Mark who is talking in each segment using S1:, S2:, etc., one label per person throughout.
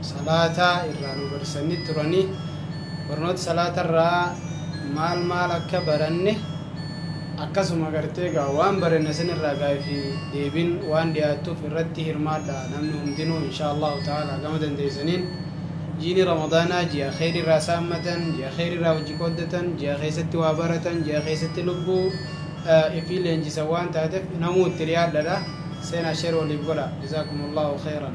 S1: salaata irraa nu barsiisanii turani. Barnoota salaata irraa maal maal akka baranne akkasuma gartee gaa waan baranne san irraa gaafii fi deebiin waan dhiyaattuuf irratti hirmaadha namni hundinuu inshaa Allahu ta'ala gama dandeessaniin jiini ramadaanaa ji'a kheyri irraa saammatan ji'a kheyri irraa hojii qooddatan ji'a keessatti waa baratan ji'a keessatti lubbuu ifii leenjisan waan taateef namuu itti dhiyaadhadha seenaa sheer waliif godha jazaakumullahu kheyran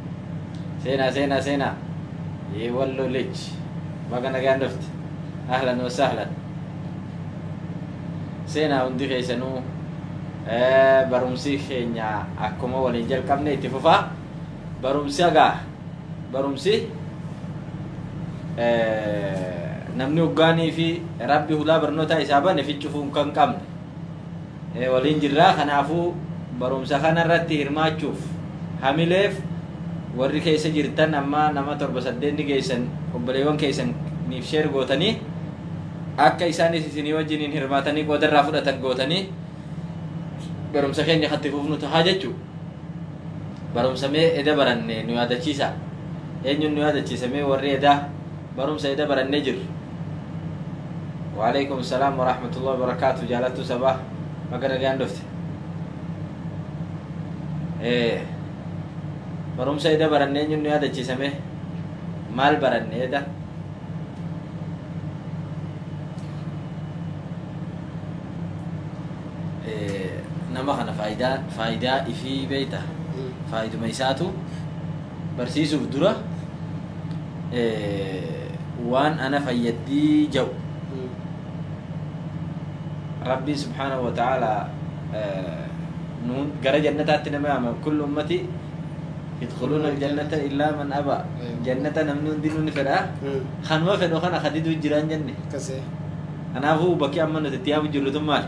S2: Seenaa seenaa seenaa Yee walloo lij Baga nagaan dhufte Ahlan wa sahlan Seenaa hundi keessanuu Barumsi keenya akkuma waliin jalqabne itti fufa Barumsi agaa Barumsi namni hoggaanii fi rabbi hulaa barnootaa isaa bane ficcufuun kan qabne waliin jirra. Kanaafuu barumsa kana irratti hirmaachuuf hamileef warri keessa jirtan amma nama torba saddeet ni geessan obboleewwan keessaniif sheer gootanii akka isaanis isinii wajjiniin hirmaatanii qooda irraa fudhatan gootanii barumsa keenya kan itti fufnu tahaa jechuu barumsa mee eda baranne nu yaadachiisa eenyuun nu yaadachiisa mee warri edaa Barumsa eda barannee jirru. Waaleykum salaam warahmatullahi wabarakatuh jaalattuu sabaa baga nagaan dhufte. Ee barumsa eda barannee eenyuun nu yaadachiisa mee maal baranne eda? Ee nama kana faayidaa faayidaa ifii beeyta faayiduma isaatu barsiisuuf dura waan ana fayyaddii ja'u rabbiin subhaanahu wa ta'aala nuun gara jannataatti nama yaama kullu ummati yadkhuluuna aljannata illaa man aba jannata namni hundinuu ni fedha kanuma fedhu kana kadiduu jiraan jenne kanaafuu bakki amma nuti itti yaamu jirru tun maali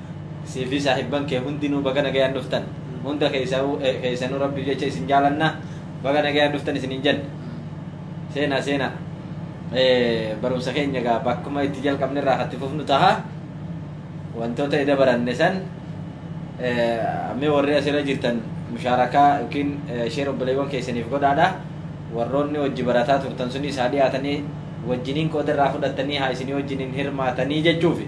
S2: Siifii saahibban kee hundinuu baga nagayaan dhuftan. Hunda keessaa'uu keessanuu rabbiif jecha isin jaalanna. Baga nagayaan dhuftan isin hin jenne. Seenaa seenaa. Eh, barumsa keenya egaa bakkuma itti jalqabne irraa kan itti fufnu taha. Wantoota eda baranne san eh, mee warri asirra jirtan mushaarakaa yookiin eh, sheer obboleewwan keessaniif godhaadha. Warroonni hojii barataa turtan sunis haa dhiyaatanii wajjiniin qooda irraa fudhattanii haa isinii wajjiniin hirmaatanii jechuufi.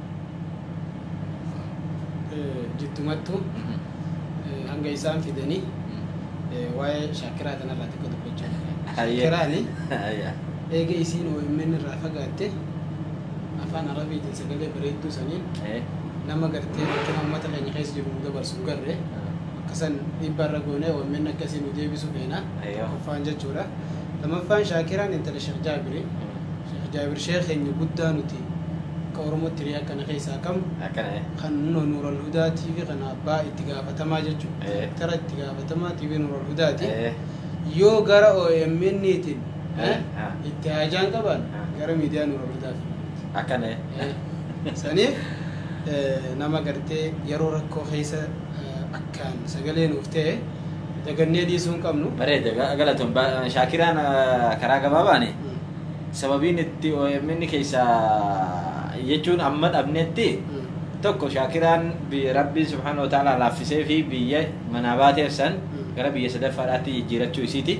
S1: eh, jittumattu Mhm. eh, hanga isaan fidanii eh, waa'ee shaakiraa tanarraa xiqqoo dubbachuu barbaada. Hayyee. Shaakiraani Hayyee. eega isiin OMN irraa fagaatte afaan arabiitiin sagalee bareedduu saniin Eh. nama gartee rakkina uummata keenya keessa jiru nu dabarsu hin garre akkasan dhiibbaa irra goonee OMN akka isiin nu deebisu feena Ayyoo. tokkoffaan jechuudha. Lamaffaan shaakiraan intala Sheekh Jaabirii. Sheekh Jaabir Sheekh keenya guddaa nuti Akka Oromootti hiriyaan kana keessaa kam? Akkana ee. Kan Nuno Nuural Hudaa TV kana abbaa itti gaafatamaa jechuun Ee. Direktara itti gaafatamaa TV Nuural Hudaati. Ee. Yoo gara OMN tiin Ee. Haa. itti haajaan qaban Haa. gara miidiyaa Nuural Hudaa fi Akkana ee. Ee. Saniif ee, nama gartee yeroo rakkoo keessa ee, akkaan sagalee nuuf ta'e dagannee dhiisuu hin qabnu. Bareeda ga- galatoon
S2: ba- Shaakiraan ah, karaa gabaabaani. Mm. Sababiin itti omn keessaa jechuun amma dhabnetti tokko shaakiraan biyya rabbiin subhaanahu wa ta'aalaa laaffisee fi biyya manaa baateef san gara biyya sadaffaadhaatti jijjiirachuu isiiti.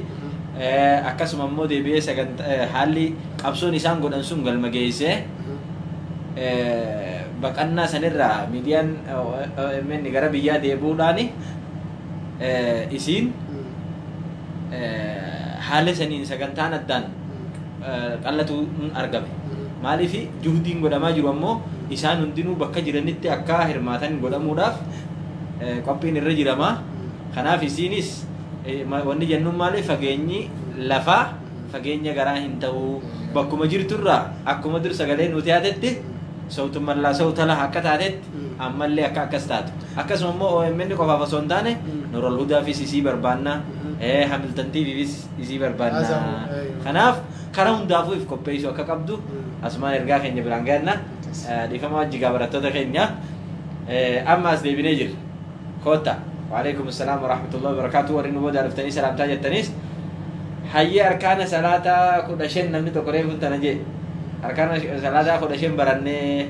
S2: Eh, Akkasuma immoo deebi'ee sagant- eh, haalli qabsoon isaan godhan sun galma geessee eh, baqannaa sanirraa miidiyaan eh, OMN gara biyyaa deebi'uudhaani eh, isiin haala saniin sagantaan addaan qal'atu argame. Maaliif juhdiin godhamaa jiru ammoo isaan hundinuu bakka jiranitti akka hirmaatan godhamuudhaaf qophiin irra jirama. Kanaaf isiinis wanni jennuun maali fageenyi lafaa fageenya garaa hin ta'uu bakkuma jirturraa akkuma dur sagalee nuti haatetti sawtumman laa sawtala akka taatetti ammallee akka akkas taatu akkasuma immoo omn qofaaf osoo hin taane noral hudaafis isii barbaanna hamiltan tvfis isii barbaanna kanaaf kara hundaafuu if qopheessuu akka qabdu asumaan ergaa keenya biraan gahanna dhiifama wajji gaa barattoota keenya amma as deebinee jirra kootta waalaikum assalaam warahmatullahi wabarakaatu warri nu boodaa dhuftanii salaamtaa jettaniis hayyee arkaana salaataa kudha shan namni tokko reefuun tana jee arkaana salaataa kudha shan barannee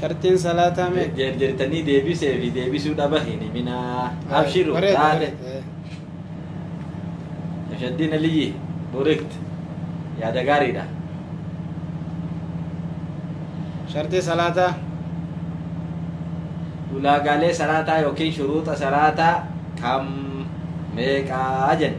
S1: sharxiin salaataa mee Jeerjeertanii deebisee
S2: fi deebisuu dhaba hin himinaa. Abshiru Bareeda, taate. bareeda. Shaddiin Aliyyi Burikt yaada gaariidha.
S1: sharxii salaataa
S2: Ulaagaalee salaataa yookiin shuruuxa salaataa kam meeqaa jenne.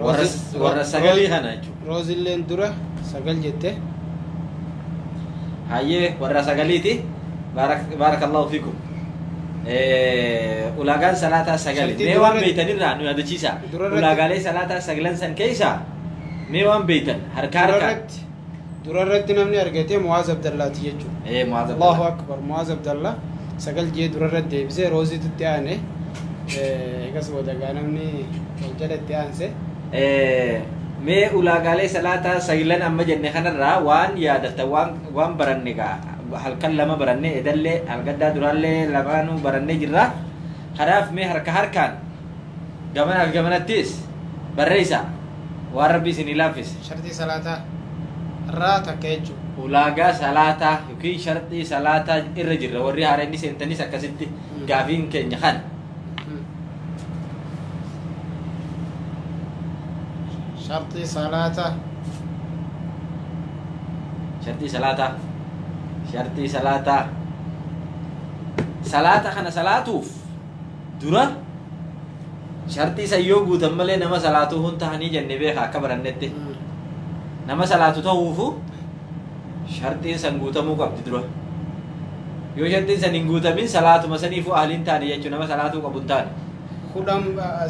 S2: warra Roozis- warra Roo- sagalii Roo- kana jechuudha Roozilleen dura
S1: sagal jette.
S2: hayyee warra sagaliiti Baarak- baarakallahu fiikum Eh, ulaagaan salaataa sagali Shantii mee waan durarra- beeytanirraa nu yaadachiisa Durarratti- ulaagaalee salaataa sagalan san keeysaa mee waan beeytan harkaa harkaa Irratti Dura irratti
S1: namni argate Mu'aaz Abdallaati jechuudha. Ee Mu'aaz Allahu Abdallah. Akbar
S2: Mu'aaz
S1: Abdallah sagal jee dura irratti deebisee Rooziitu itti aane. Eh, Egas booda gaa namni wal jala itti aanse. Eh,
S2: Mee ulaagaalee salaataa sayilan amma jenne kanarraa waan yaadatta waan waan baranne gaa halkan lama baranne edallee halgaddaa duraallee lamaanuu barannee jirra. Kanaaf mee harka harkaan Gamanaa fi gamanattis barreessaa waan Rabbi isinii laaffise. Sharxii salaataa
S1: irraa takka jechuudha. Ulaagaa salaataa
S2: yookiin sharxii salaataa irra jirra warri haara inni seentanis akkasitti gaafiin keenya kana.
S1: Sharxii salaataa. Sharxii
S2: salaataa. Sharxii salaataa. Salaata kana salaatuuf dura sharxii san yoo guutan malee nama salaatuu hun tahanii jenne beeka akka barannetti nama salaatu tahuufu sharxiin san guutamuu qabdi dura yoo sharxiin san hin guutamin salaatuma saniifu ahliin taane jechuu nama salaatuu qabu hin taane kudhan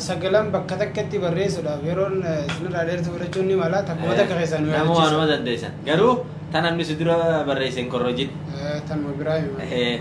S1: sagalan bakka takkatti barreessuudhaaf yeroon isinirraa dheertuu fudhachuun ni mala takkuma takka keessaa nu nama waanuma yaadachiisa dandeessan
S2: garuu tan namni si dura barreesse hin korrojin tanuma biraa
S1: hima Eh,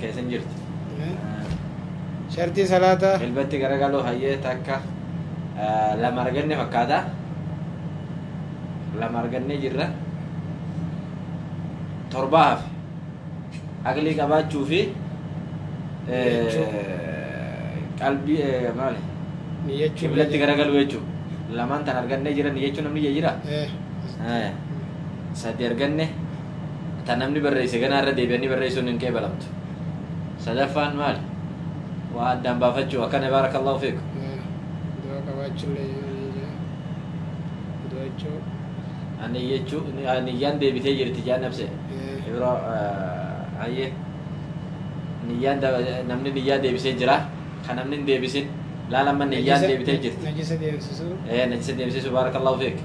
S2: keessa hin jirtu. Shartii
S1: salaataa. Jilbatti garagaluu hayyee
S2: takka lama arganne fakkaata. Lama argannee jirra. Torbaa hafe. Aqlii qabaachuu fi qalbii maali? Niyyachuu.
S1: Qiblatti garagaluu
S2: jechuudha. Lamaan tan argannee jiran niyyachuu namni jira. Sadii arganne. ta namni barreesse ganaa irra deebi'anii barreessuun hin qeebalamtu. Sadaffaan maali? Waa addaan baafachuu akkana baarakallahu fiikum. Du'a
S1: qabaachullee du'a jechuu. Ani
S2: jechuu niyyaan deebitee jirti jaan nabse. Yeroo hayyee niyyaan namni niyyaa deebisee jira kan namni hin deebisin laala amma niyyaan deebitee jirti. Najisa deemsisuu.
S1: Ee najisa deemsisuu
S2: baarakallahu fiik.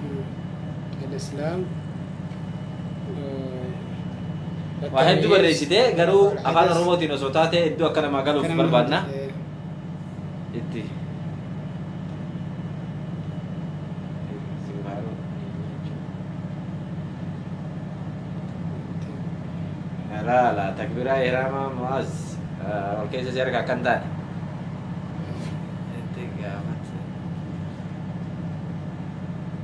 S2: Al-Islaam. Waa hedduu barreessite garuu afaan Oromootiin osoo taate hedduu akka namaa galuuf barbaadna. Itti. Laala takbiraa ihraama mu'az ol keessa si arga akkan taane. Itti gaafata.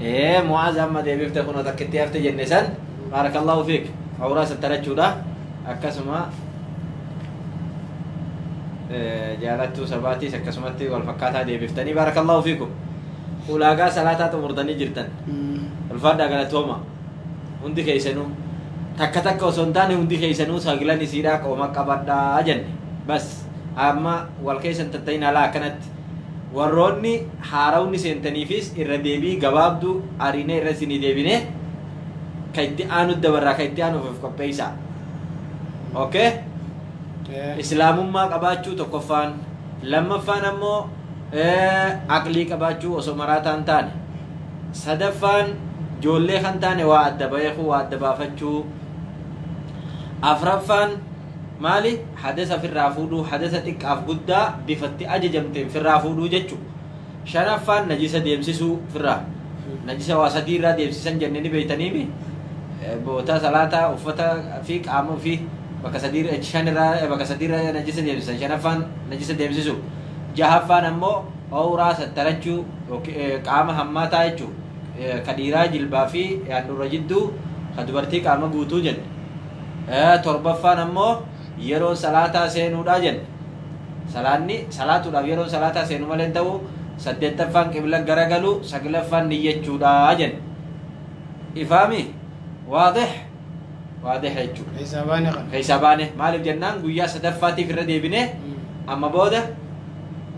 S2: ee mu'aaz amma deebifte kunoo takkitti hafte jenne san baarakallahu fiik awraa sattarachuudha akkasuma jaalattuu sabaatiis akkasumatti wal fakkaataa deebiftanii baarakallahu fiikum ulaagaa salaataa xumurtanii jirtan ulfaadhaa galatooma hundi keessanuu takka takka osoo hin taane hundi keessanuu saglan isiidhaa qooma qabadhaa jenne bas Amma wal keessa hin tatta'in alaa akkanatti. Warroonni haarawni seentaniifis irra deebii gabaabduu ariinee irra isinii deebinee ka itti aanu dabarraa ka itti aanuuf of qopheessaa. Okay? Eh, Islaamummaa qabaachuu tokkoffaan lammaffaan ammoo eh, aqlii qabaachuu osoo maraataan taane sadaffaan joollee kan taane waa adda baheekuu waa adda baafachuu afraffaan Maali? Hadasa firraa fuudhuu, hadasa xiqqaaf guddaa bifa itti ajajamteen firraa fuudhuu jechu. Shanaffaan najisa deemsisuu firraa. Najisa waa sadii irraa deemsisan jenne ni beeytaniimi. Boota salaataa, uffata fi qaama ofii bakka sadii irra- shan irraa bakka sadii irra najisa deemsisan. Shanaffaan najisa deemsisuu. Jahaffaan ammoo awraa sattarachuu yooki- eh, qaama hammaataa jechu. Eh, Ka dhiiraa jilbaa fi handhuura jidduu, ka dubartii qaama guutuu jenne. torbaffaan ammoo yeroon salaataa seenuudha jenne salaanni salaatuudhaaf yeroon salaataa seenu malee hin ta'u saddeettaffaan qibla garagalu saglaffaan niyyachuudha jenne ifaami waadih waadih jechuudha Keessaa baane kana. keessaa baane maaliif jennaan guyyaa sadaffaatiif irra deebine amma booda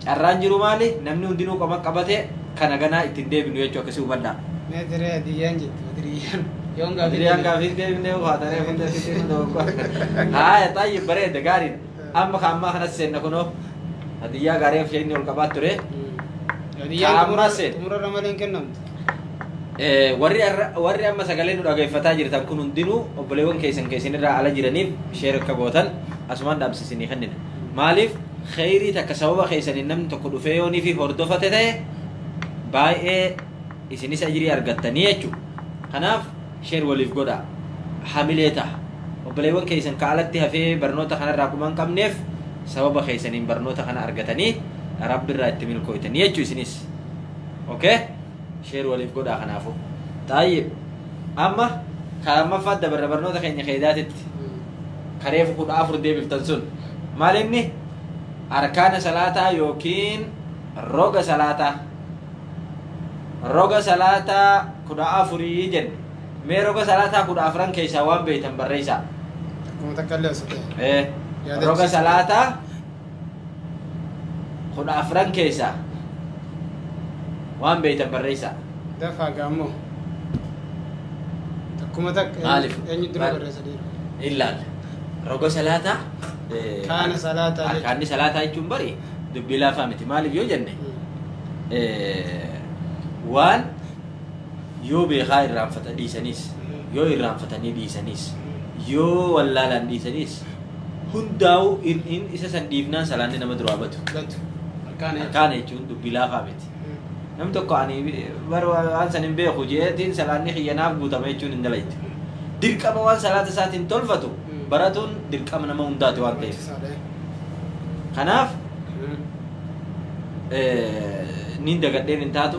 S2: Carraan jiru maali? Namni hundinuu qoma qabatee kan haganaa itti hin deebinu jechuu akkasii hubadhaa. Mee diree hadiyyaan
S1: jettu badiriyyaan yoon gaafii Adriyaan deebisu.
S2: gaafii deebinee ufaatanii hunda sitti nu dogoggora. Haaya xaayyi bareeda gaariidha. Amma ka ammaa kanas seenna kunoo. Hadiyyaa gaarii of isheen ol qabaa ture. Hadiyyaan Kaammaa xumura- seet.
S1: xumurarra malee hin kennamtu. Eh, Warri arra-
S2: warri amma sagalee nu dhageeffataa jirtan kun hundinuu obboleewwan keessan keessan irraa ala jiraniif sheer akka gootan asumaan dhaamsisinii kennina. Maaliif kheyrii takka sababa keeysaniin namni tokko dhufee yoo nifi hordofate ta'e baay'ee isinis ajrii argattanii jechu kanaaf sheer waliif godha hamilee taha obboleewwan keeysan ka alatti hafee barnoota kanarraa kuma hin qabneef sababa keeysaniin barnoota kana argatanii rabbirraa itti milkooytanii jechu isinis okay sheer waliif godhaa kanaafu xaayyib amma kaammaffaat dabarra barnoota keenya keeydaatitti ka reefu kudha afur deebiftan sun maal inni arkaana salaataa yookiin roga salaataa roga salaataa kudha afurii jenne mee roga salaataa kudha afran keessaa waan beeytan barreeysaa Akkuma takka illee
S1: osoo ta'e. Eh, Yaada
S2: roga ibsituu. salaataa kudha afran keessaa waan beeytan barreessaa. Dafaa gaammoo.
S1: Takkuma takka Maaliif? eenyu dura Maal-
S2: barreessa dhiira.
S1: Illaal.
S2: Roga salaataa. eh, Kaana
S1: salaataa jechuudha. Arkaanni salaataa jechuun
S2: bari dubbii laafaa miti. Maaliif yoo jenne eh, waan yoo beekaa irraanfata dhiisaniis yoo irraanfatanii dhiisaniis yoo wallaalaan dhiisaniis Hundaa'uu hir'iin isa san dhiifnaan salaanni nama duraa batu. Batu. Harkaan eechu. Harkaan jechuun dubbii laafaa miti. Namni tokko ani bara waan san hin beeku jeetiin salaanni kiyya naaf guutama jechuun hin dalaytu. Dirqama waan salaata isaatiin tolfatu Mm. baratuun dirqama nama hundaati waan ta'eef. Kanaaf eh, niin dagadheen hin taatu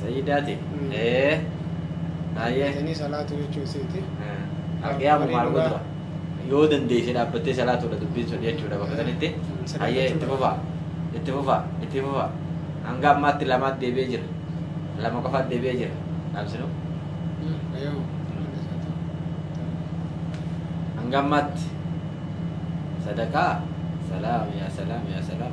S2: Sayyidaati. Mm. Ee. Hayyee. Jettanii salaatu
S1: jechuu isiiti. Arqiyaa Marii
S2: mubaaraka dhugaa. dura. Yoo dandeesse dhaabbattee salaatuudha dubbiin sun jechuudha bakka sanitti. Sadaqachuu Hayyee itti qaba. fufaa. Itti fufaa. Itti fufaa. Hanga ammaatti lamaatti deebi'ee jira. Lama qofaatti deebi'ee jira. Dhaabsinu. Mm, Eeyyoo. Hanga ammaatti. Sadaqaa. Salaam yaa salaam yaa salaam.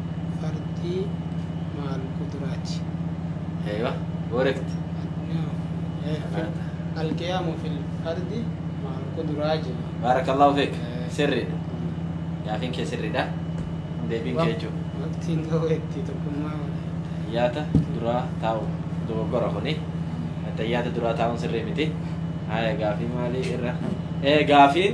S1: fardii maal quduraati aywa
S2: correct
S1: alqiyaamu fil fardi maal quduraa jira baarakallahu
S2: feek sirriidha gaafiin kee sirriidha deebiin kee jechuudha waqtiin ga'u
S1: itti tokkummaa tayyaata
S2: duraa taa'u dogoggora kuni tayyaata duraa taa'uun sirrii miti haya gaafii maalii irra ee gaafiin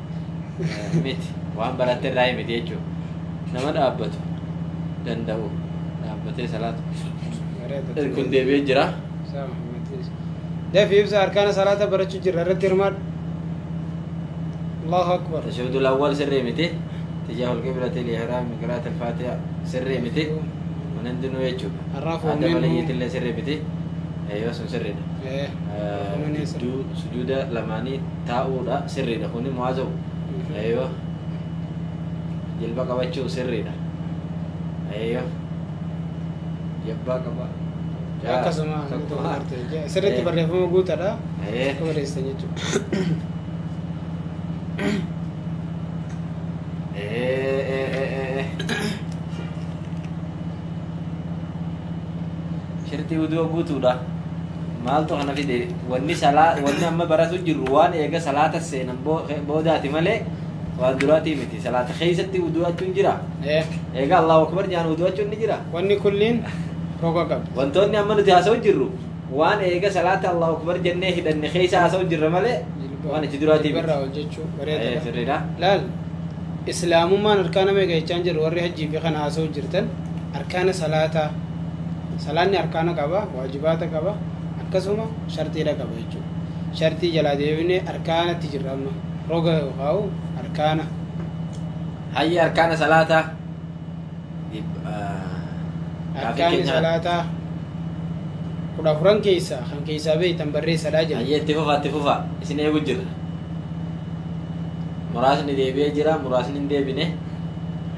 S2: miti waan baratte irraa miti jechuudha nama dhaabbatu danda'u dhaabbatee salaatu kun deebi'ee jira
S1: dafi ibsa arkaana salaata barachuu jirra irratti hirmaadhu allahu akbar tashahudul awwal sirrii
S2: miti tijahul qiblati lihiraam qiraat alfaatiha sirrii miti kun hundinuu jechuudha Arrafu adda minhu.
S1: maliyyiitillee
S2: sirrii miti yoo sun sirriidha Eh, Eh, kunoo ni sirrii. gidduu sujuuda lamaanii taa'uudha sirriidha kuni mu'aazoo aywa jilba qabachuu sirriidha aywa jabbaa qaba
S1: akkasuma sirriitti barreeffama guutadha akka barreessitan jechuudha Eh, eh, eh, eh, eh. shirxii uduu guutuudha maaltu kana fide wanni salaa wanni amma baratu jirru waan eega salaata seenan boo- boodaati malee waan duraatii miti salaata keessatti uduu achuun jira Eh, eega allahu akbar jaan uduu achuun ni jira wanni kulliin roga qabdi wantoonni amma nuti haasa'u
S2: jirru waan eega salaata Allahu Akbar jennee hidhanne keessa haasa'u jirra malee waan itti duraatii miti. Jilbarraa hojjechuu Eh,
S1: bareeda. sirriidha.
S2: Laal
S1: islaamummaan arkaana meeqa jechaan jiru warri hajjii fi kana haasa'u jirtan arkaana salaataa salaanni arkaana qaba waajibaata qaba akkasuma shartiidha qaba jechuudha. Shartii jalaa deebinee arkaanatti jirra amma roga yookaan arkaana
S2: Hayya arkaana salaataa.
S1: Arkaanni salaataa kudha afran keessaa kan keessaa beektan barreessadhaa jedha. Ayyee itti fufaa itti fufaa
S2: isin eegu jirra. Muraasni deebi'ee jira muraasni hin deebine.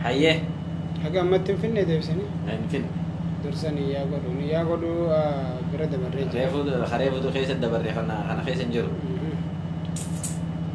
S2: Hayyee Haga
S1: ammatti hin finne deebisanii hin finne.
S2: dursanii
S1: yaa godhu ni yaa godhu ah, bira dabarree jira. Reefuu reefuutu keessa
S2: dabarreeffannaa kana keessa hin jiru. Mhm.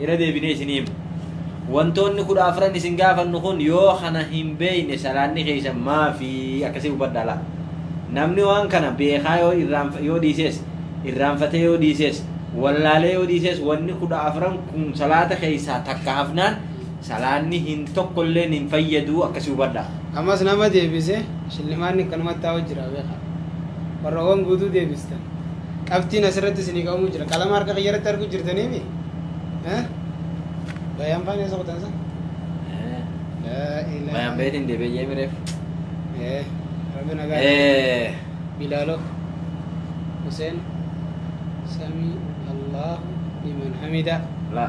S2: Irra deebinee isinii himna. Wantoonni kudha afran isin gaafannu kun yoo kana hin beeyne salaanni keeysan maafi akkasii hubadhaa laa. Namni waan kana beekaa yoo irraanf yoo dhiisees, irraanfatee yoo dhiisees, wallaalee yoo dhiisees wanni kudha afran kun salaata keeysaa takka hafnaan salaanni hin tokko illeen hin fayyaduu akkasii hubadhaa. Ammas nama
S1: deebise shillimaanni akkanumatti taa'u jira beekaa. Warra waan guutuu deebistan Qabxiin asirratti isinii qabamuu jira. Qalama harka kiyya irratti arguu jirtanii mi? Bayaan faana isa kutan sa? Bayaan beetiin deebi'ee jee
S2: mireef.
S1: Rabbi nagaa. Bilaaloo. Huseen. Samii. Allahu. Liman hamida. La.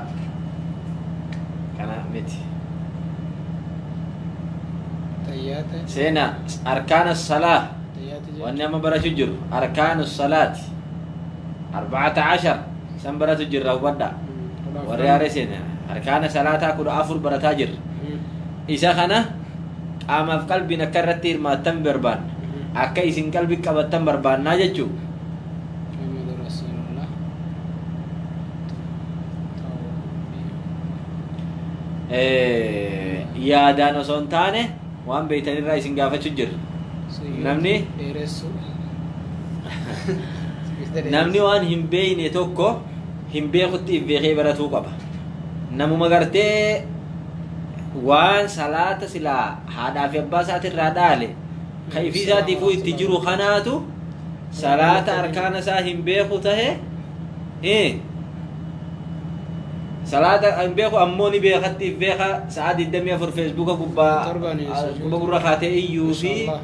S2: Kana miti.
S1: Tayyaata. Seena
S2: arkaana salaa. Tayyaati jechuun. wanni
S1: amma barachu jiru
S2: arkaanu salaati arbacata cashar san baratu jirra hubadha warri haaree seene arkaana salaataa kudha afur barataa jirra isa kana qaamaaf qalbiin akka irratti hirmaattan barbaanna akka isin qalbi qabattan barbaannaa jechuu Muhammadu
S1: Rasuulullah.
S2: Tawfiiq. eh, yaadaan osoo hin taane Waan beektan irraa isin gaafachuu jirra. Namni dheeressu. namni waan hin beekne tokko hin beekutti if beekee baratuu qaba. Namuma gartee waan salaata silaa haadhaa fi abbaa isaati irraa dhaale kan ifii isaatiifuu itti jiru kanaatu salaata arkaana isaa hin beeku tahe eh, salaata hin beeku ammoo ni beekatti if beeka sa'a 24 feesbuuka gubbaa Torbaniin ah, sujuuda. quba gurra kaatee iyyuu fi Mashallah.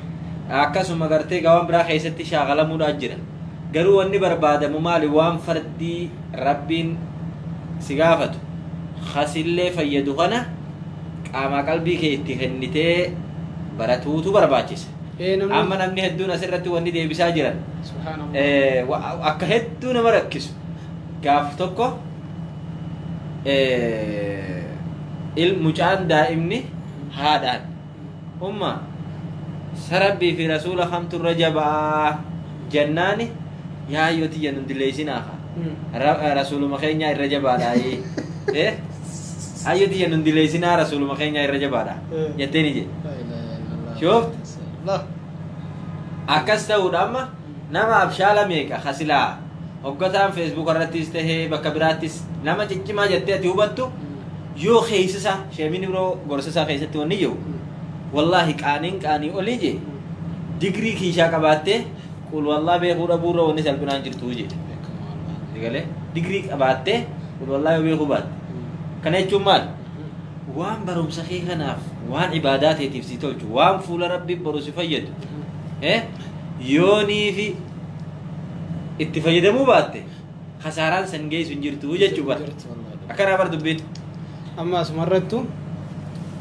S2: akkasuma gartee gawaan biraa keessatti shaagalamuudhaa jira garuu wanni barbaadamu maali waan fardii rabbiin si gaafatu kasillee fayyadu kana qaamaa qalbii kee itti kennitee baratuutu barbaachisa Ee, namni- amma namni hedduun asirratti wanni deebisaa jiran Subhaanallah.
S1: eh, wa- akka hedduu nama
S2: rakkisu gaaf tokko mucaan daa'imni haadhaan umma sarabbii fi rasuula kamtu irra jabaa jannaani yaa yoo tiyya nun dileesinaafa rasuuluma keenyaa irra jabaadha ee hayyoo tiyya nun dileesinaa rasuuluma keenyaa irra jabaadha jetteeni jedhe Shooft. akkas ta'uudha amma Nama abshaala meeqa ka silaa hoggataan feesbuuka irrattis tahee bakka biraattis nama ciccimaa jettee ati hubattu yoo keeysisaa sheemiin biroo gorsasaa keessatti wanni jiru wallaahi qaaniin qaanii olii jee digrii kiishaa qabaattee qul wallaa beekuu dhabuu irra wanni salphinaan jirtuu jee egalee digrii qabaattee qul wallaa yoo beekuu baatte kana jechuun maal waan barumsa kee kanaaf waan ibaadaa teetiif si tolchu waan fuula rabbii boru si fayyadu eh Yoo niifi itti fayyadamuu baatte kasaaraan san geessu hin jirtu jechuu bara. Jirtu wallahi. Akkanaa bar dubbiin. Amma
S1: asumarrattu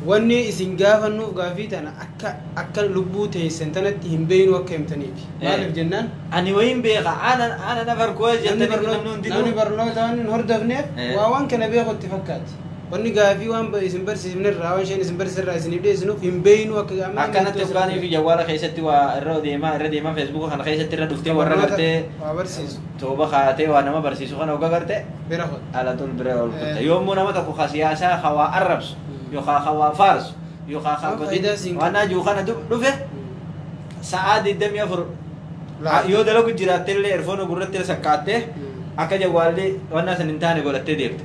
S1: wanni isin gaafannuuf gaafii tana akka akka lubbuu teessan tanatti hin beeknu akka himtaniiti. Maaliif jennaan Ani wayiin beeka
S2: aanan aanan afar
S1: kuwa namni jettanii barnoota namni hundinuu. namni barnootaan hin hordofneef Eh. waa waan kana beeku itti
S2: fakkaati.
S1: Wanni gaafii waan ba- isin barsiisifne irraa, waan isheen isin barsiise irraa isiniif dhiyeessinuuf hin beeynu akka amma Akkanatti murtoo isin hoggaanii
S2: fi barsiise. jawwaala keessatti waa irra deemaa irra deemaa feesbuuka kana keessatti irra dhuftee Kan warra barnoota gartee waa barsiisu.
S1: tooba kaatee waa
S2: nama barsiisu kana hogga garte Bira hot. alatul
S1: bira ol kutta.
S2: Eh. Yommuu nama tokko ka siyaasaa ka waa arrabsu Mm. yookaan ka waa faarsu yookaan ka Waan godin faayidaa siin waan qabu. ajuu kana du- dhufe sa'aa 24 Laata. yoo dalagu jiraatte illee erfoona gurratti sakkaattee Mm. akka jawwaalli waan san hin taane godhattee deemte.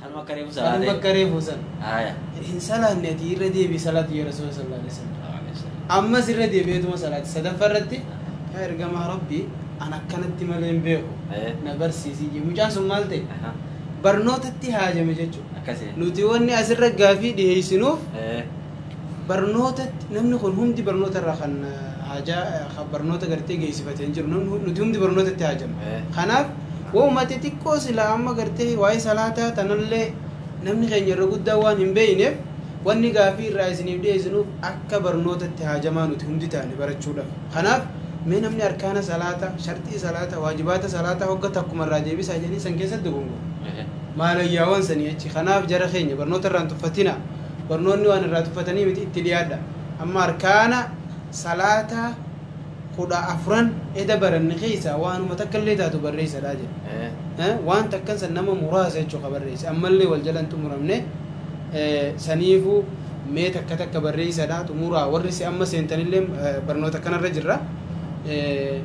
S1: Kanuma akka reefu salaate. Kanuma
S2: akka reefu san.
S1: Haaya. Hin salaanne ati irra deebi'i salaatu yaa Rasuula sallallahu alaihi wasallam. Ammas irra deebi'eetuma salaate. Sadaffaa irratti yaa ergamaa Rabbi an akkanatti malee hin beeku. Na barsiisii jee. Mucaan sun maal ta'e? Barnootatti haajame jechuudha. Akkasii. Nuti wanni asirra gaafii dhiheessinuuf barnootatti namni kun humdi barnoota irraa kan haajaa kan barnoota gartee geessifate hin jiru namni hu- nuti humdi barnootatti haajama Eh. kanaaf wauma xixiqqoo silaa amma gartee waa'ee salaataa tanallee namni keenya irra guddaa waan hin beeyneef wanni gaafii irraa isiniif dhiyeessinuuf akka barnootatti haajamaa nuti hundi taane barachuudhaaf kanaaf mee namni arkaana salaataa sharxii salaataa waajibaata salaataa hogga takkuma irraa deebisaa jedhanii san keessatti dogongora maalayyaawwan sanii jechi kanaaf jara keenya barnoota irraan tuffatina Barnoonni waan irraa tuffatanii miti itti dhiyaadha. Amma arkaana salaataa kudha afran eda baranne keessaa waanuma takka illee taatu barreessadha jedhe. Eh, Eh, Waan takkan san nama muraasa jechuudha ka barreesse. Ammallee wal jalan xumuramne eh, saniifuu mee takka takka barreessadha xumuraa warri si amma seentanillee eh, barnoota kanarra jirra. Eh,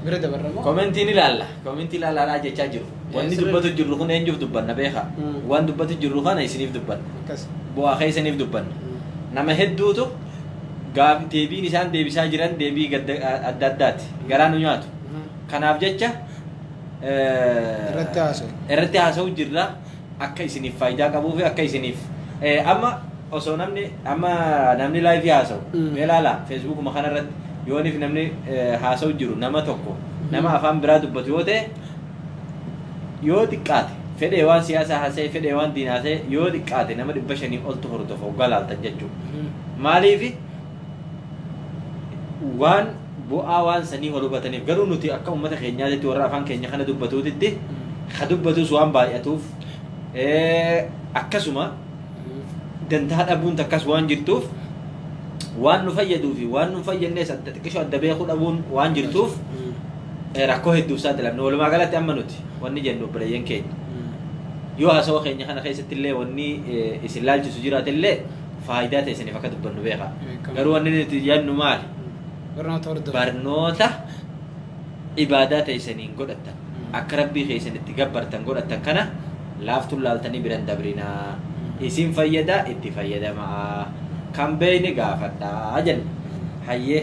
S1: Bira dabarra moo? Komentiin ilaalla.
S2: Komentii ilaalaadhaa jechaa jiru. Wanni dubbatu jirru kun eenyuuf dubbanna beekaa? Waan dubbatu jirru kana isiniif dubbanna. Akkas. Bu'aa keessaniif dubbanna. Nama hedduutu gaaf- deebiin isaan deebisaa jiran deebii gadda- adda addaati. Garaa nu nyaatu. Kanaaf jecha eh, Irratti haasa'u. irratti haasa'u jirra akka isiniif faayidaa qabuu fi akka isiniif eh, amma osoo namni amma namni laayifii haasa'u Mm. mee ilaala feesbuukuma kanarratti yooniif namni eh, haasa'u jiru nama tokko nama afaan biraa dubbatu yoo ta'e yoo xiqqaate fedhee waan siyaasaa haasa'e fedhee waan diinaa haasa'e yoo xiqqaate nama dhibba shanii oltu hordofa hoggaa laaltan jechuudha. Maaliifi waan bu'aa waan sanii wal hubataniif garuu nuti akka uummata keenyaatitti warra afaan keenya kana dubbatuutitti ka dubbatus waan baay'atuuf eh, akkasuma dantaa dhabuun takkas waan jirtuuf waan nu fayyaduu fi waan nu hin fayyadnes adda xiqqishoo adda beekuu dhabuun waan jirtuuf eh, rakkoo hedduuf saaxilamne walumaa galatti amma nuti wanni jennu obboleeyyan keenya yoo haasawa keenya kana keessatti illee wanni eh, isin laalchisu jiraate illee faayidaa ta'e isiniif akka dubbannu beeka Beekama. garuu wanni nuti jennu maali Barnoota hordofaa. barnoota ibaadaa ta'e isiniin godhattan Mm. akka rabbii keessan itti gabbartan godhattan kana laaftuun laaltanii biran dabrinaa Mm. isin fayyadaa itti fayyadamaa kan beeyne gaafadhaa jenna hayyee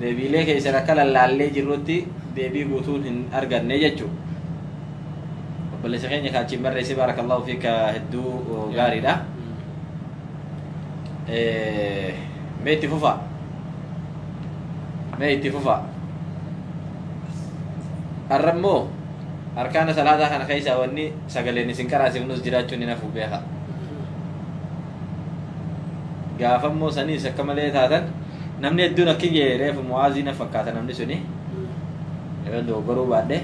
S2: Deebiilee keessan akka lallaallee jirrutti deebii guutuun hin arganne jechuudha. Obboleessa keenya kan achiin barreesse baarakallahu fiika hedduu gaariidha. Eh, Mee itti fufaa. Mee itti fufaa. Har'a immoo arkaana salaataa kana keessaa wanni sagaleen isin qaraasifnus jiraachuun hin hafu beekaa. gaafa immoo saniis akka malee taatan namni hedduun akkin jee reefu mu'aazii na fakkaata namni suni yoo dogoggoruu baadhe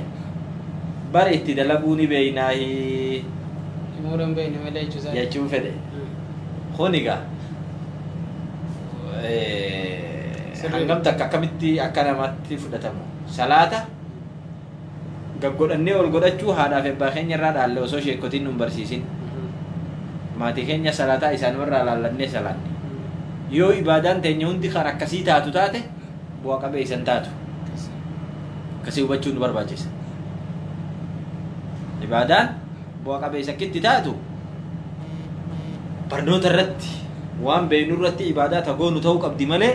S2: bara itti dalaguu ni beeynaahi Umuura
S1: hin beekne malee jechuusaa. jechuun fedhe
S2: kun egaa eh, Sirrii. hangam takka akkamitti akka namatti fudhatamu salaata Gaggodhannee ol godhachuu haadhaaf ebbaa keenya irraa dhaalle osoo sheekkotiin nun barsiisin. Maatii keenya salaataa isaanumarraa laallannee salaanne. Yoo ibaadaan teenya hundi kan akkasii taatu taate bu'a qabeessa hin taatu. Akkasii hubachuun nu barbaachisa. Ibaadaan bu'a qabeessa akkitti taatu barnoota irratti waan beeknu irratti ibaadaa tagoonu ta'uu qabdi malee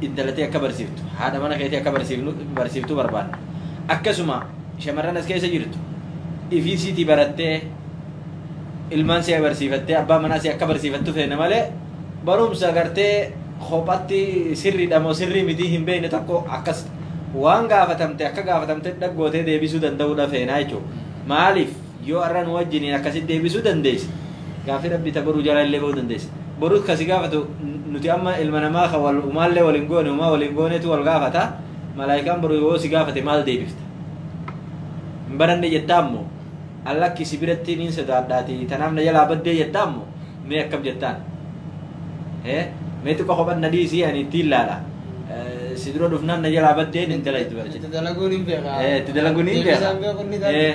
S2: intala tee akka barsiiftu, haadha mana keetii akka barsiiftu barbaanna. Akkasuma shamarran as keessa jirtu ifii isiitii barattee ilmaan si'a barsiifattee abbaa manaa si akka barsiifattu feena malee barumsa gartee kophatti sirriidha moo sirrii mitii hin beekne tokko akkas waan gaafatamte akka gaafatamte dhaggootee deebisuu danda'uudha feenaa jechuudha. Maaliif? Yoo arra nu wajjiniin akkasitti deebisuu dandeesse, gaaffii Rabbii ta boruu jala illee bahuu dandeessa. Boru ka si gaafatu nuti amma ilma namaa ka wal umaallee wal hin goone umaa wal hin goonetu wal gaafata. Malaayikaan boru yoo si gaafate maal deebifta? Hin baranne jettaa immoo? An lakki si biratti niin sodaadhaatii tanaaf na jalaa baddee jettaa immoo? Mee akkam jettaan? Ee? Mee xiqqoo kophan na dhiisii ani ittiin laala. Eh, Si dura dhufnaan na jalaa baddeen hin dalagdu barjaa. Itti dalaguun hin beekaa.
S1: Eh, itti dalaguun hin beekaa.
S2: Deebisaan beekuun ni ta'a. Eh.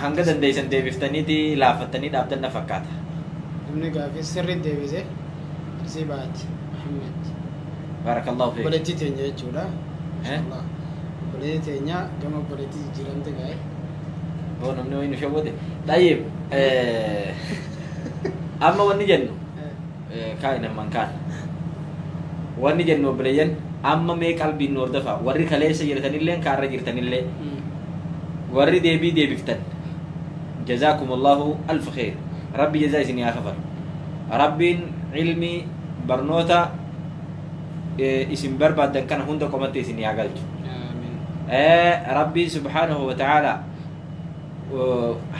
S2: Hanga dandeessan deebiftaniiti laaffattanii dhaabdan na fakkaata. Namni gaaffii
S1: sirrii deebise Arsiibaat Muhammad.
S2: Baarakallahu feek. Obboleettii teenya jechuudha.
S1: Mashallah. Obboleettii teenya gama obboleettii jijjiiramte gaa'e. Boo
S2: namni wayii nu shawwade. Xayyib. Amma wanni jennu. Kaa inamman kaan. Wanni jennu obboleeyyan amma mee qalbiin nu hordofa warri kaleessa jirtanilleen kaarra jirtanillee warri deebii deebiftan jazaakumullahu alf kheer rabbi jazaa isin yaa kafalu rabbiin ilmi barnoota eh, isin barbaaddan kana hunda qomatti isin yaa galchu Amiin. Eh, rabbiin subhaanahu wa ta'aalaa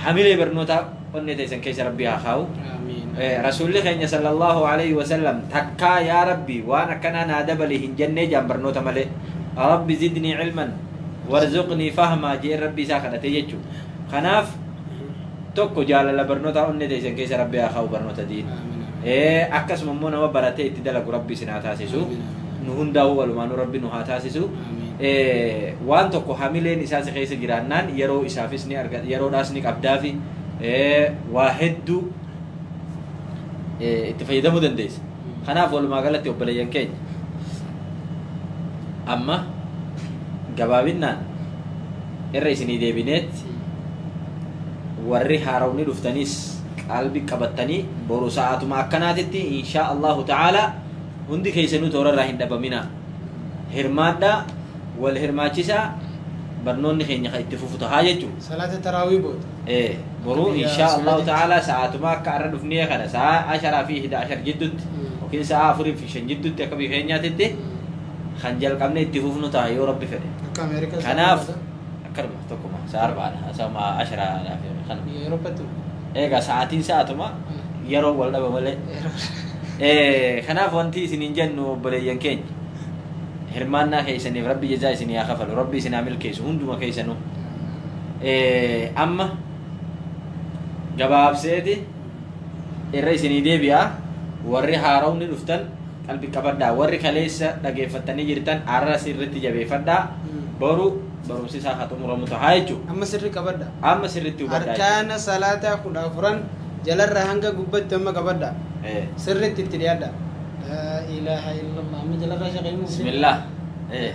S2: hamilee barnootaa onnee teessan keessa rabbii haa kaa'u Aamiin. Eh, rasuulli keenya sallallahu alaihi wasallam takkaa yaa rabbi waan akkanaa naa dabali hin jennee jaan barnoota malee rabbi zidnii ilman warzuqnii fahmaa jee rabbi isaa kadhatee jechuu kanaaf tokko jaalala barnootaa onnee teessan keessa rabbi haa kaa'u barnoota diin Aamiin. Eh, akkasuma immoo nama baratee itti dalagu rabbi isin haa taasisu Aamiin. nu hundaa'uu walumaanuu rabbi nu haa taasisu Amiin. Eh, waan tokko hamileen isaa si keessa jiraannaan yeroo isaafis ni arga yeroodhaas ni qabdaafi Eh, waa hedduu eh, itti fayyadamuu dandeessa kanaaf walumaa galatti obboleeyyan keenya amma gabaabinaan irra isinii deebineetti warri haarawni dhuftaniis qalbi qabattanii boru sa'aatuma akkanaatitti inshaa allahu ta'aalaa Hundi keessanuu toorarraa hin dhabaminaa. Hirmaadhaa, wal hirmaachisaa, barnoonni keenya kan itti fufu tahaa jechuudha. Salaata taraawii
S1: booda. Ee, boruu Biyya
S2: inshaa Allahu Suudaanitti. ta'aalaa sa'aatuma akka arra dhufnee kana sa'a asharaa fi hida ashar jidduutti Mm. yookiin sa'a afurii fi shan jidduutti akka biyya keenyaatitti kan jalqabnee itti fufnu taha yoo rabbi fedhe. Akka Ameerikaa. Kanaaf akkanuma. Tokkuma. Sa'a arbaadha. Asama ashara laaf yoo kana. Yeroo battu. Egaa sa'aatiin
S1: sa'aatuma
S2: yeroo wal dhaba malee. Eh, Kanaaf wanti isiniin jennu obboleeyyan keenya. Hirmaannaa keessaniif rabbi jazaa isin yaa kafalu. Rabbi isin haa milkeessu hunduma keessanuu. Eh, Amma gabaabseeti. irra isinii deebi'a warri haarawni dhuftan qalbi qabadhaa warri kaleessa dhageeffattanii jirtan arras irratti jabeeffadhaa boru barumsi isaa haa xumuramu tahaa jechuudha amma sirri qabadha
S1: amma sirriitti hubadhaa
S2: jechuudha. arkaana salaataa
S1: kudha afuran jalarra hanga gubbatti amma qabadha Eh, sirritti itti dhiyaadha laa ilaaha illallah amma jalarraa shaqeemu bismillah Eh.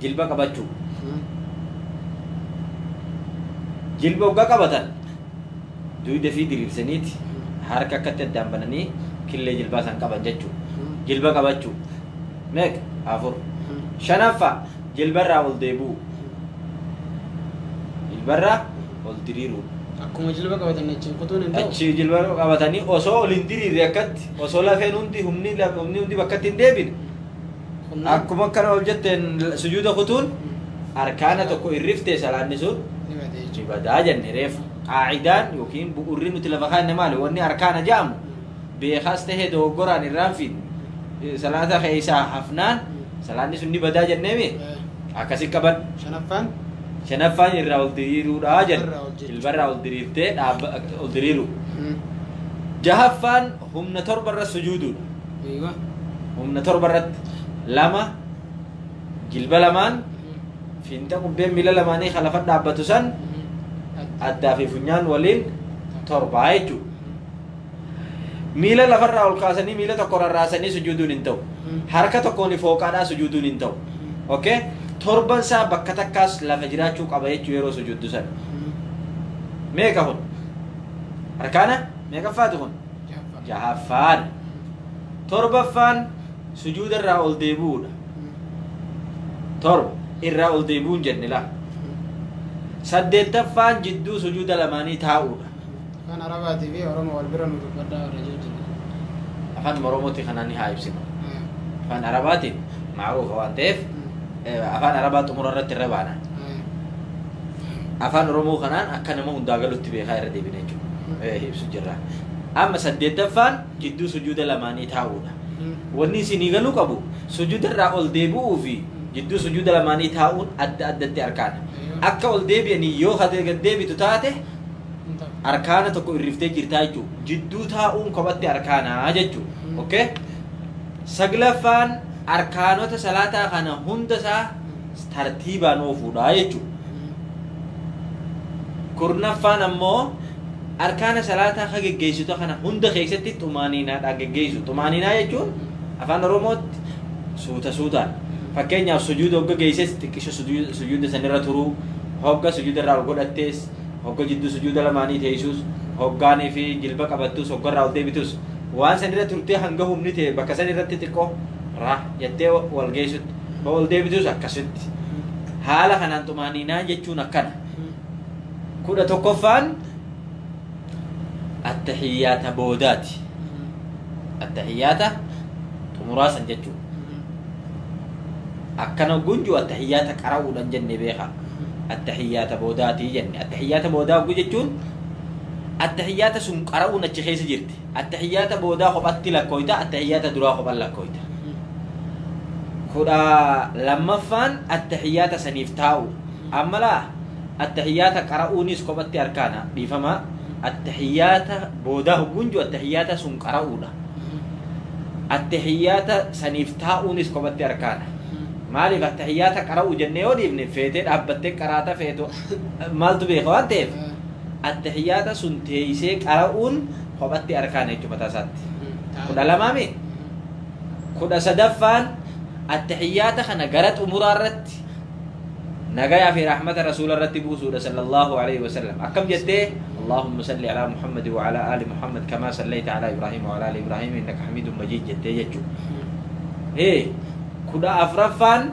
S2: jilba qabachuu jilba ogga qabatan duyda fi diriirsaniiti harka akkatti addaan bananii killee jilbaa san qaban jechuu jilba qabachuu meeqa afur shanaffa jilbarraa ol deebi'u jilbarraa ol diriiruu Akkuma jilba qabatan
S1: achiin kutuun hin ta'u. achi jilba qabatanii
S2: osoo ol hin diriirre akkatti osoo lafeen hundi humni laf- humni hundi bakkatti hin deebine Qunnaam. Akkuma akkana ol jetteen sujuuda kutuun arkaana tokko irriftee salaanni sun Ni bada ni jechuudha. badaa jenne reefu. Qaacidaan yookiin bu'urri nuti lafa kaanne maali? Wanni arkaana ja'amu beekaas tahee dogoggoraan irraan fi salaata keessaa hafnaan salaanni sun ni badaa jenneemi Eh, akkasi qaban. Shanaffaan Shanaffaan irraa ol diriiruudha jenne. Irraa ol jechuudha. Ilbarraa ol diriirtee dhaabba ol diriiru. mm, Jahaffaan humna torba irra sujuuduudha. Eeywa. humna torba irratti lama jilba lamaan fiinxa qubbeen miila lamaanii kan lafa dhaabbatu san addaa fi funyaan waliin torbaa jechuudha. Miila lafarraa ol kaasanii miila tokko rarraasanii sujuuduun hin ta'u. Harka tokkoon fooqaadhaa sujuuduun hin ta'u. Okay? Torban isaa bakka takkaas lafa jiraachuu qaba jechuu yeroo sujuuddu sana. Meeqa kun? Harkaana meeqaffaati kun? jahaffaadha. Torbaffaan sujuuda irraa ol deebi'uudha. Torba irraa ol deebi'uun jenne laa. Saddeettaffaan jidduu sujuuda lamaanii taa'uudha. Afaan Arabaatii
S1: fi Oromoo wal bira nu dubbadhaa warra jechuu jira. Afaan
S2: Oromooti kanaan ni haa ibsinu. Afaan Arabaatiin maaruufa waan ta'eef eh, afaan Arabaa xumura irratti irra baana. Afaan Oromoo kanaan akka nama hundaa galutti beekaa irra deebina jechuudha. Eh, Ibsu jirra. Amma saddeettaffaan jidduu sujuuda lamaanii taa'uudha. Wanni isinii galuu qabu sujuuda irraa ol deebi'uu fi jidduu sujuuda lamaanii taa'uun adda addatti arkaana. Akka ol deebi'anii yoo ka gad deebitu taate arkaana tokko irriftee jirtaa jechuudha. Jidduu taa'uun kophatti arkaanaa jechuudha. Mm. Okay? Saglaffaan arkaanota salaataa kana hunda isaa tartiibaan oofuudha jechuudha. Kurnaffaan ammoo arkaana salaataa ka geggeessitu kana hunda keessatti xumaaniinaadhaan geggeessu. Xumaaniinaa jechuun afaan Oromootti suuta suutaan. Fakkeenyaaf sujuuda hogga geesses xiqqisho sujuuda sanirra turuu, hogga sujuuda irraa ol godhattees, hogga jidduu sujuuda lamaanii teessuus, hoggaanii fi jilba qabattus, hogga irraa ol deebitus. Waan sanirra turtee hanga humni ta'e bakka sanirratti xiqqoo raa jettee wal geessutti. Yoo ol deebitus akkasitti. Haala kanaan xumaaniinaa jechuun akkana. Kudha tokkoffaan attahiyyaata boodaati. Attahiyyaata xumuraa san jechuun. Akkana gunju attahiyyaata qara'uudhaan jenne beeka. Attahiyyaata boodaati jenne. Attahiyyaata boodaa oguu jechuun attahiyyaata sun qara'uun achi keessa jirti. Attahiyyaata boodaa kophatti lakkooyta, attahiyyaata duraa kophan lakkooyta. kudha lammaffaan attahiyyaata saniif taa'u. Ammalaa attahiyyaata qara'uunis kophatti arkaana dhiifama attahiyyaata boodaa hogguunju attahiyyaata sun qara'uudha. Attahiyyaata saniif taa'uunis kophatti arkaana. Maaliif attahiyyaata qara'uu jennee yoo dhiifne feetee dhaabbattee qaraata feetu maaltu beeka waan ta'eef. Attahiyyaata sun teeysee qara'uun kophatti arkaana jechu mataa isaatti. Kudha lamaa mi? Kudha sadaffaan attahiyyaata kana gara xumuraa irratti nagayaa fi rahmata rasuula irratti buusuudha sallallahu alaihi wasallam. Akkam jettee Allahumma salli ala Muhammad wa ala ali Muhammad kama sallayta ala Ibrahim wa ala ali Ibrahim innaka hamidun majid jettee jechuudha. Hee kudha afraffaan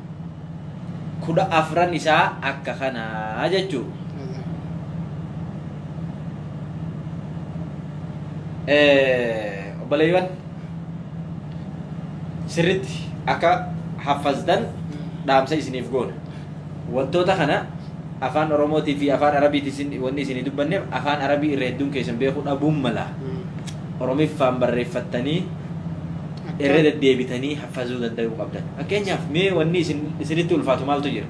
S2: kudha afran isaa akka kanaa jechuu obboleeywan sirritti akka haffazdan dhaamsa isiniif goona wantoota kana afaan oromootii fi afaan arabiiti isin wanni isinii dubbanneef afaan arabii irra hedduun keessan beekuu dhabuun mala oromiffaan barreeffattanii irra deddeebitanii haffazuu danda'uu qabdan fakkeenyaaf mee wanni isin isinitti ulfaatu maaltu jira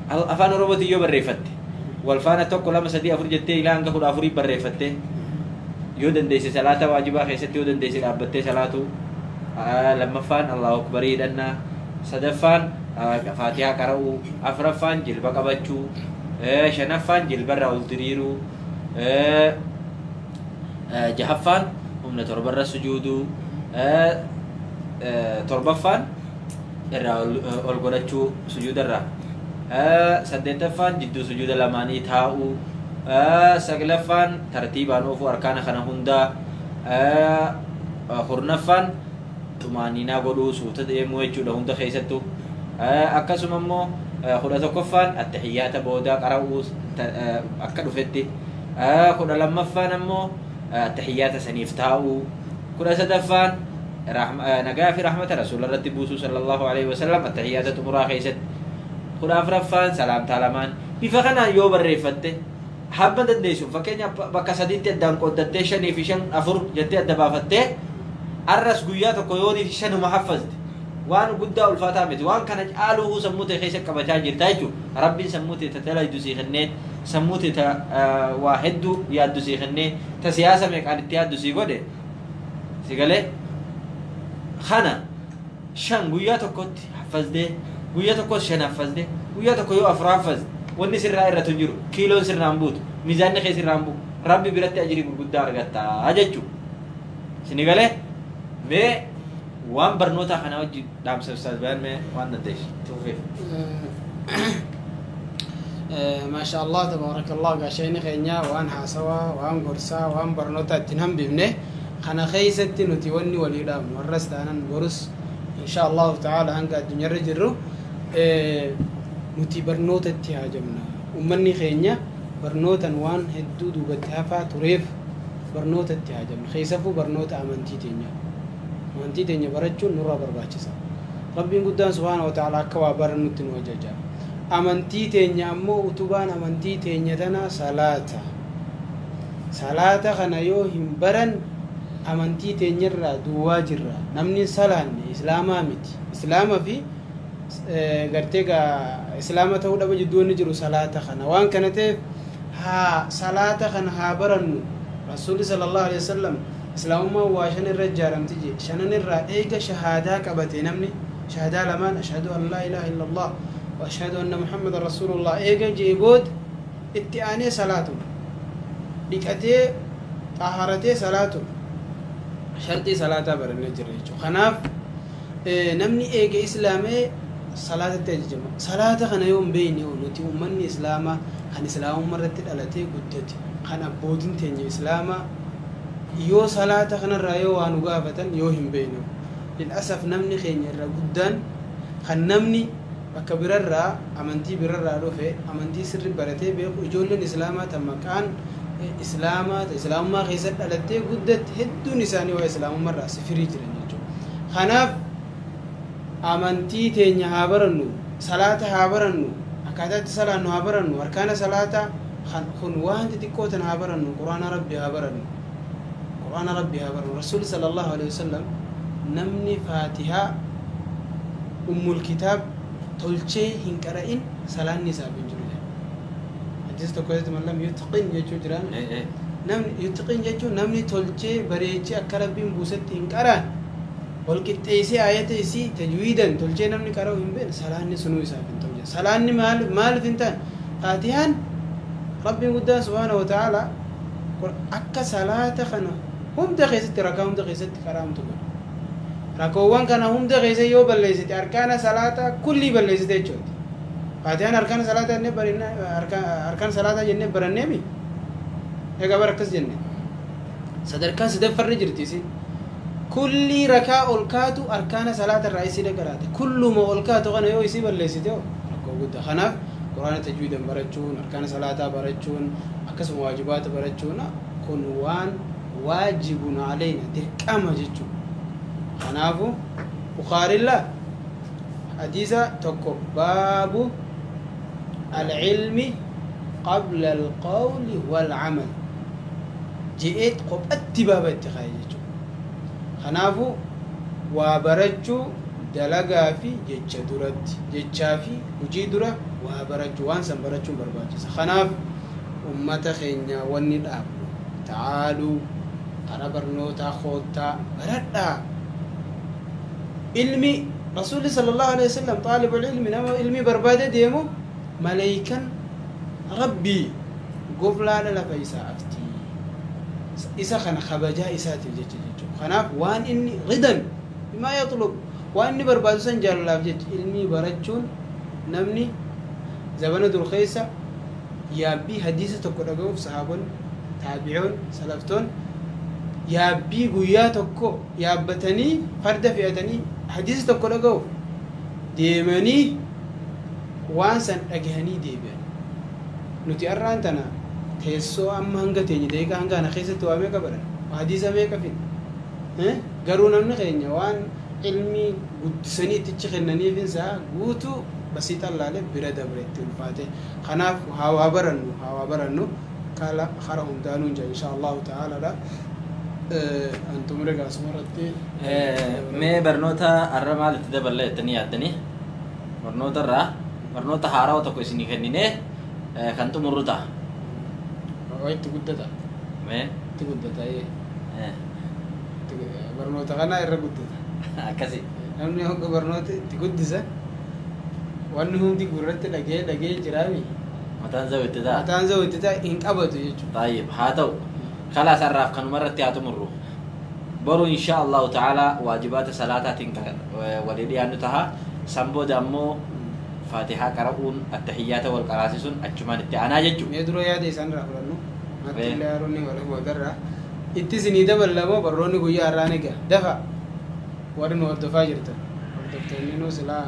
S2: Al- afaan oromootiin yoo barreeffatte wal faana tokko lama sadii afur jettee ilaa hanga kudha afurii barreeffattee yoo dandeesse salaata waajibaa keessatti yoo dandeesse dhaabbattee salaatuu Aa, lammaffaan allahu akbarii hidhannaa sadaffaan aa, faatihaa qara'uu afraffaan jilba qabachuu ee, shanaffaan jilbarraa ol diriiruu ee, jahaffaan humna torbarra sujuuduu torbaffaan irraa ol godhachuu sujuudarraa saddeettaffaan jidduu sujuuda lamaanii taa'uu saglaffaan tartiibaan oofuu arkaana kana hundaa kurnaffaan xumaaniinaa godhuu suuta deemuu jechuudha hunda keessattuu akkasuma immoo kudha tokkoffaan attahiyyaata boodaa qara'uu akka dhufetti kudha lammaffaan ammoo tahiyyaata saniif taa'uu kudha sadaffaan nagaa fi rahmata rasuula irratti buusuu sallallahu alaihi wasallam tahiyyaata xumuraa keessatti kudha afraffaan salaamtaa lamaan bifa kanaan yoo barreeffatte hamma dandeessuun fakkeenya bakka sadiitti addaan qooddattee shanii fi shan afur jettee adda baafattee arras guyyaa tokko yoo niif shanuma haffazte waan guddaa ulfaataa miti waan kana caaluu sammuu ta'e keessa qabachaa jirta jechuudha rabbiin sammuu ta'e tajaajilaa jiru sii kennee Sammuu tee ta waa heddu yaaddu sii kennee, ta siyaasa meeqaan itti yaaddu sii godhe, si galee? Kana shan guyyaa tokkotti haffaztee, guyya tokkos shan haffazte, guyyaa tokko yoo afur haffazte, wanni sirraa irratu hin jiru, kiiloon sirraa hin buutu, miizaanni kee sirraa hin bu'u, Rabbi biratti ajrii gurguddaa argatta jechu. Sini galee? Mee. Waan barnootaa kanaa wajji dhaamsa Ustaaz Bayaan mee waan dandeessu itti fufeef.
S1: maasha allah tabaarakallah gaashayni keenya waan haasawaa waan gorsaa waan barnootaa ittiin hambifne kana keessatti nuti wanni walii dhaabnu warras taanan borus insha allahu ta'ala hanga addunyaarra jirru eh, nuti barnoota itti haajamna ummanni keenya barnootan waan hedduu duubatti hafaa tureef barnoota itti haajamna keessafuu barnoota amantii teenyaa Amantii teenya barachuun nurraa barbaachisa. Rabbiin guddaan subhaanahu wa ta'aalaa akka waa barannutti nu ajaja. Amantii teenya ammoo utubaan amantii teenya tanaa salaata. Salaata kana yoo hin baranne amantii teenyarraa duwwaa jirra. Namni hin salaanne islaamaa miti. Islaama fi gartee gaa islaama ta'uu dhaba jidduu wanni jiru salaata kana. Waan kana ta'eef haa salaata kana haa barannu. Rasuulli sallallahu alaihi wasallam Islaamummaan waa shan irra ijjaaramti jee. Shanan irraa eega shahaadaa qabate namni, shahdaa lamaan Ashhadu an laa ilaaha illa Allaah wa Ashhadu anna Muhammadan Rasuulu Allaah eega jee booda itti aanee salaatuma. Dhiqatee, xaaharatee salaatuma. Sharxii salaataa barannee jirra jechuudha. Kanaaf namni eega islaamee salaatatti ajajama. Salaata kana yoo hin beekne hoo nuti ummanni islaamaa kan islaamummaa irratti dhalatee guddate kan abbootiin teenya islaamaa Yoo salaata kanarraa yoo waa nu gaafatan yoo hin beekne lil'asaf namni keenya irra guddaan kan namni bakka birarraa amantii birarraa dhufe amantii sirri baratee beeku ijoolleen islaamaa ta maqaan islaamaa ta islaamummaa keessa dhalattee guddatti hedduun isaanii waa islaamummarraa sifirii jiran jechuudha kanaaf amantii teenya haa barannu salaata haa barannu akkaataatti salaannu haa barannu harkaana salaataa Kan kun waan xixiqqoo tana haa barannu qur'aana rabbi haa barannu qur'aana rabbi haa barannu rasuulli sallallahu alaihi wasallam namni faatihaa ummul kitaab tolchee hin qara'in salaanni isaaf hin jiru jedhe hadiisa tokko keessatti man lam yutqin jechuu jiraan Eh, eh. namni yutqin jechuun namni tolchee bareechee akka rabbiin buusetti hin qaraan wal qixxeessee ayata isii tajwiidan tolchee namni qara'u hin beekne salaanni sunuu isaaf hin ta'u jedhe Salaanni maal maalif hin taane? Faatihaan Rabbiin guddaan subhaanahu wa ta'aalaa qur akka salaata kana hunda keessatti rakaa hunda keessatti qaraamtu godhe. Rakoowwan kana hunda keessa yoo balleessite arkaana salaataa kullii balleessite jechuuti. Faatihaan arkaana salaataa jennee barannee arkaan salaataa jennee baranneemi. Egaa bara akkas jenne. Sadarkaa sadaffarra jirti isin. Kullii rakaa ol kaatu arkaana salaata irraa isii dhaqaraata. Kulluma ol kaatu kana yoo isii balleessite hoo rakkoo gudda. Kanaaf Qur'aana tajwiidan barachuun, arkaana salaataa barachuun, akkasuma waajibaata barachuun kun waan waajibun aleyna dirqama jechuudha. Kanaafu Bukhaarilla Hadiisa 1 Baabu Al-Ilmi Qabla Al-Qawli Wal-Amal je'eet kophatti baaba itti kaaye jechuudha. Kanaafu, waa barachuu dalagaa fi jecha duratti, jechaa fi hujii dura waa barachuu, waan san barachuun barbaachisa. Kanaaf, ummata keenyaa wanni dhaamnu, ta'aaluu, kara barnootaa koottaa, baradhaa! Ilmi Rasuulli sallallahu aleyh wasallam xaalibul ilmi nama ilmii barbaade deemu maleeykan Rabbii goflaadha lafa isaa afti. Isa kana kabajaa isaatiif jecha jechuudha. Kanaaf waan inni ridan bimaa yaxlub waan inni barbaadu san jaalalaaf jecha ilmii barachuun namni zabana dur keessa yaabbii hadiisa tokko dhaga'uuf sahaabonni taabi'oon salaftoon yaabbii guyyaa tokko yaabbatanii farda fe'atanii hadiisa tokko dhagahuuf deemanii waan san dhagahanii deebi'an nuti arraan tana teessoo amma hanga teenye daqiiqaa hanga kana keessatti waa meeqa baran hadiisa meeqa fidna Eh? garuu namni keenya waan ilmii guddisanii ittichi kennaniif isaa guutuu basii xallaalee bira dabre itti ulfaate kanaaf haa waa barannu haa waa barannu kaala hara hundaanuun jira insha allahu ta'aaladha an xumure gaasuma irratti mee
S2: barnoota har'a maal itti daballee jettanii yaaddanii barnoota irraa barnoota haarawa tokko isinii kenninee eh, kan xumurru ta'a
S1: waa itti guddata mee
S2: itti guddata ee eh,
S1: itti gu- barnoota kana irra guddata akkasi
S2: namni hogga
S1: barnoota itti guddisa wanni hundi gurratti dhagee dhagee jiraami Mataan zaw itti
S2: ta'a. Mataan zaw itti ta'a hin qabatu jechuudha.
S1: Xaayib haa ta'u.
S2: Kalaas har'aaf kanuma irratti haa xumurru. Boru inshaa Allahu ta'ala waajibaata salaataatiin kan walii dhiyaannu taha. San booda ammoo faatihaa qara'uun attahiyyaata wal qaraasisuun achumaan itti aanaa jechuudha. Mee dura yaada isaan irraa
S1: fudhannu. Matti Ee. illee haroonni wal agarra. Itti isinii daballa moo barroonni guyyaa har'aan egaa. Dafa. Warri nu hordofaa jirtan hordoftoonninuu silaa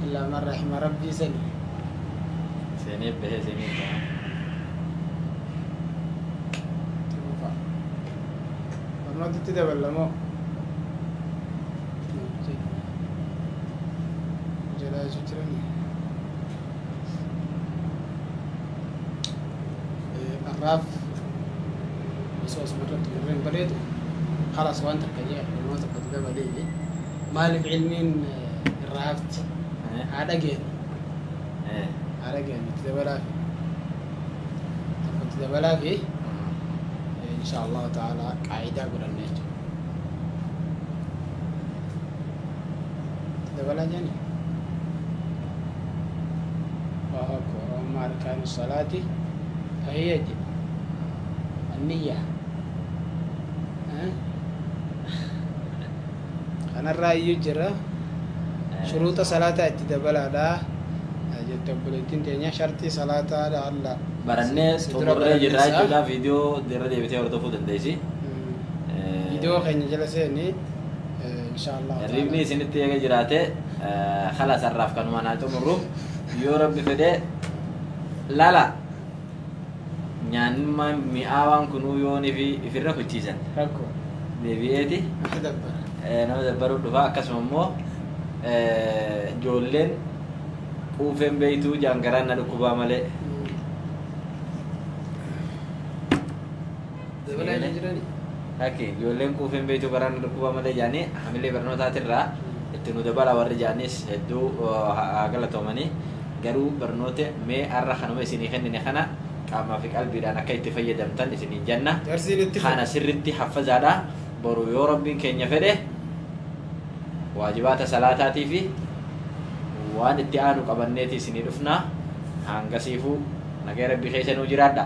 S1: illaa man rahima rabbii sani.
S2: Seenee bahee seenee bahaa. itti
S1: fufa. Barnoota itti daballa moo? Jedhaa jechuu jiranii? Eh, Har'aaf Osoo isuma irratti murree hin baleetu khalas waan takka jee ilmoo tokko dibee balii maalif ilmiin irraa hafti haa dhageenu haa dhageenu itti dabalaa fi tokko itti dabalaa fi insha allahu ta'ala qaayidaa godhanne jechuudha dabalaa jani Allahu akbar amma arkaanu salaati fahiya je anniyya kanarraa iyyuu jira shuruuxa salaataa itti dabalaadha jette obboleettiin teenya sharxii salaataadha alla barannee si dura xumurree
S2: jirraa baranneessa. jechuudha viidiyoo irra deebitee hordofuu dandeessi. Mm.
S1: Viidiyoo keenya jala seeni inshallah Hirribni isinitti eega
S2: jiraate halas har'aaf kanumaan haa xumurru yoo rabbi fedhe lala nyaannummaan mi'aawaan kunuu yoonii fi ifirra kuchiisan rakko
S1: deebi'eeti
S2: akka
S1: dabbara eh, nama dabbaruuf
S2: dhufa akkasuma immoo eh, ijoolleen quufeen beeytuu jaangaraan na dhukkubaa malee
S1: Dabalaa hin jirani. Akka ijoolleen
S2: quufeen beektu garaa nu dhukkuba malee jaanii hamilee barnootaatirraa itti nu dabala warri jaanis hedduu haa galatoomanii garuu barnoota mee har'a kanuma isinii kennine kana qaamaa fi qalbiidhaan akka itti fayyadamtan isiniin janna. Darsiin itti Kana fufa. sirritti haffazaadha. Boru yoo rabbiin keenya fedhe waajibaata salaataatii fi waan itti aanu qabanneeti isinii dhufna. Hangasiifuu nagaya rabbii keessa nuu jiraadha.